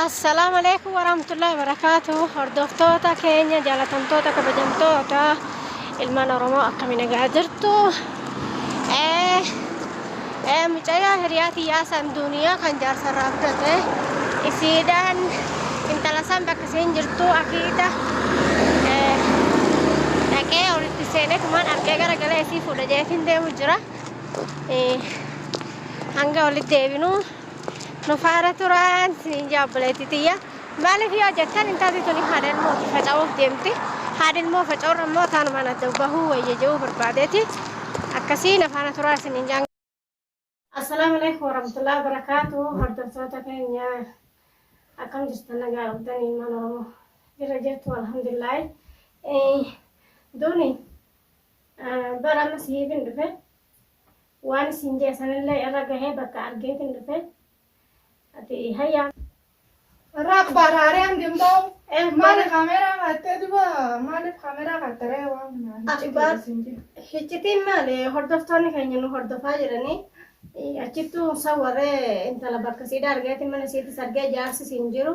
Assalaamu alaikum warahmatullahi wabarakaatu hordoftoota keenya jaalatamtoota kabajamtoota ilmaan oromoo akkami nagaa jirtu ee ee mucayaa hiriyaa tiyyaa san duuniyaa kan jaarsarraa fudhate isiidhaan intala san bakka isiin jirtu akiida ee dhaqee olitti seenee tumaan argee gara galee isii fuudha jeetiin deemu jira ee hanga olitti deebinu nu faara turaan isiniin jaa obboleettii tiyya maaliif yoo jettan intalli tuni haadha ilmooti faca'uuf deemti haadha ilmoo faca'uun ammoo taanumaan adda bahuu wayya jedhuu barbaadeeti akkasii na faana turaa isiniin jaan Assalaamu alaikum warahmatullahi wabarakatuh hordoftoota keenya akkam jirtan nagaa qabdan ilmaan oromoo jirra jirtu alhamdulillahi duuni bara amma sihiibin dhufe Waan isiin jee sanillee irra gahee bakka argeetin dhufe. Ati hayyaa. Raak baaraaree hangin ba'u. Eh, Maaliif kaameeraa kaattee duba maaliif kaameeraa kaatte ree waan kana Ati hiccitii baar- isin jira. Hiccitiin maali hordoftoonni keenya nu hordofaa jiranii eh, achittuu sawwaree intala bakka siidha argeetin mana siitis argee jaarsis hin jiru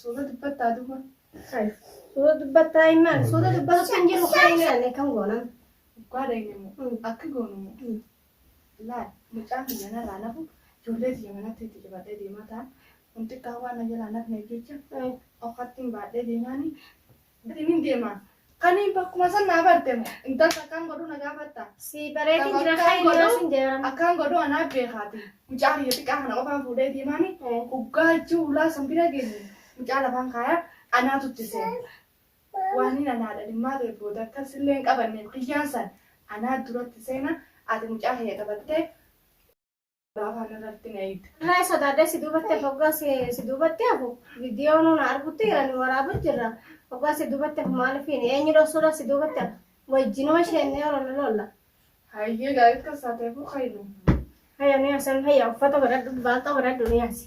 Suuta dubbattaa duuba. Hay. Suuta dubbattaa himaan. Suuta dubbatu kan jiru kan hin jedhanne kan goonan. Dhugaa daa'imni Mm. akka goonu Mm. laal mucaan biyya narraa nafu ijoollee biyya manatti itti cibadhee deemaa ta'a. Kun xiqqaa waan na jalaa nafneef jecha Mm. ofattiin baadhee deemaani Ati nin deema. Kani bakkuma san naa barte mo intalti akkaan godhu na gaafatta. Sii bareedin Tapha jira akkaan kayni godhu yoo sin jaran. akkaan godhu anaa beekaati. Mucaa kiyya xiqqaa kana qofaan fuudhee deemaani hoggaa juulaa san bira geenye mucaa lafaan kaaya anaatu itti seena. Waaniin anaa dhalmaa ta'e booda akkas illee hin qabanne kiyyaan san anaa duratti seena ati mucaa kiyya taphattee Afaan irratti na hiite. Irraa sodaadhee si duubatti hafu hoggaa si duubatti hafu viidiyoo nuun argutti jiran waraaba jirra. Hoggaa si duubatti hafu maaliif hin eenyu dhoksuudhaaf si duubatti hafu wajjinuma sheennee olola lolla. Hayyee gaarii kan saateefuu kaynu. Hayya ni hasan hayya uffata godhadhu baaqaa godhadhu ni hasi.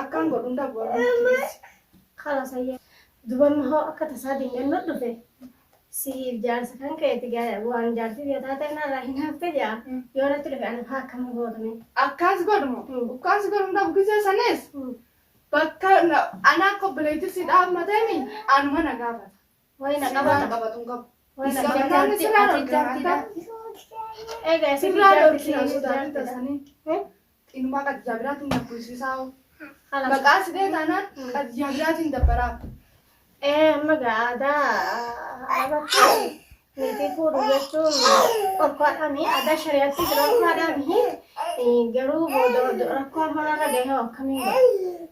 Akkaan godhuun dhabuu Kala sayya. Dubarma hoo akka tasaa dinganna dhufe. Siif jaarsa kan keeti gaa- waan jaartii biyya taatee narraa hin hafte jaa. Yoo natti dhufe ana faa akkam gootame. Akkaas godhumo. Mm. Akkaas godhuun dhabu gisee sanis bakka na- anaa akka obboleettii si dhaabmatemi anuma na gaafata. Wayi na qabaa na qabatu hin qabu. Wayi na qabaa na ati jaartidha. Egaa isin jaartidha. Xinumaa qadijaa biraatiin na bulchisaa hoo. Maqaa si bee taanaan qadijaa biraatiin dabbaraa. Ee amma gaa aadaa arabatti niitii fuudhu jechuun dhorkaadhaami. Aadaa shari'aatti dhorkaadhaami. Garuu booda rakkoo hamarra gahee akkamiin godha?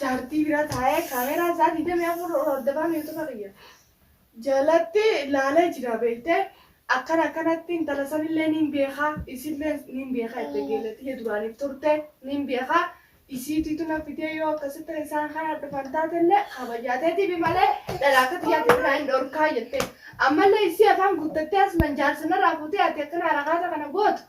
Jaartii bira taa'ee kaameeraa isaa 24 ol hordofaan yuutuba kiyya jalatti laalee jira beektee akkana akkanatti intala sanillee niin beekaa isillee niin beekaa itti geelatiyya duraaniif turte niin beekaa isiitiitu na fidee yoo akkasitti isaan kana dhufan taatellee kabajaateetiif malee dhalaa akka xiyyaatti biraa hin dhorkaa jettee ammallee isii afaan guuttattee asman jaarsa narraa fuutee ati akkana harakaata kana gootu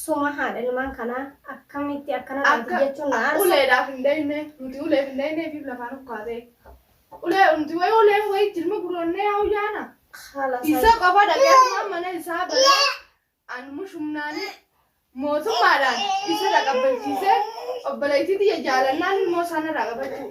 Suma haadha ilmaan kanaa akkamitti akkana taati Akka jechuun na aarsa. uleedhaaf hin dayne nuti uleef hin dayne ifiif lafaan ukkaatee ulee nuti wayi uleen wayi jirma guroonnee yaa uyyaana Haala isa isaa qofa dhaqee asumaan mana isaa banee an mushumnaanii mootummaadhaan isa dhaqabbachiisee obboleettii tiyya jaalannaan ilmoo isaa narraa qabachuu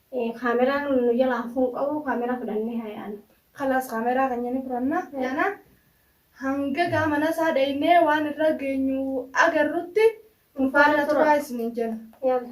Camera nu jala hafun qabu camera fudhanne ha yaanu. Kalaas camera keenya ni fudhanna yaana hanga gaa mana isaa dheyne waan irra geenyu agarrutti nu faana turaa isinin jenna. Yalla.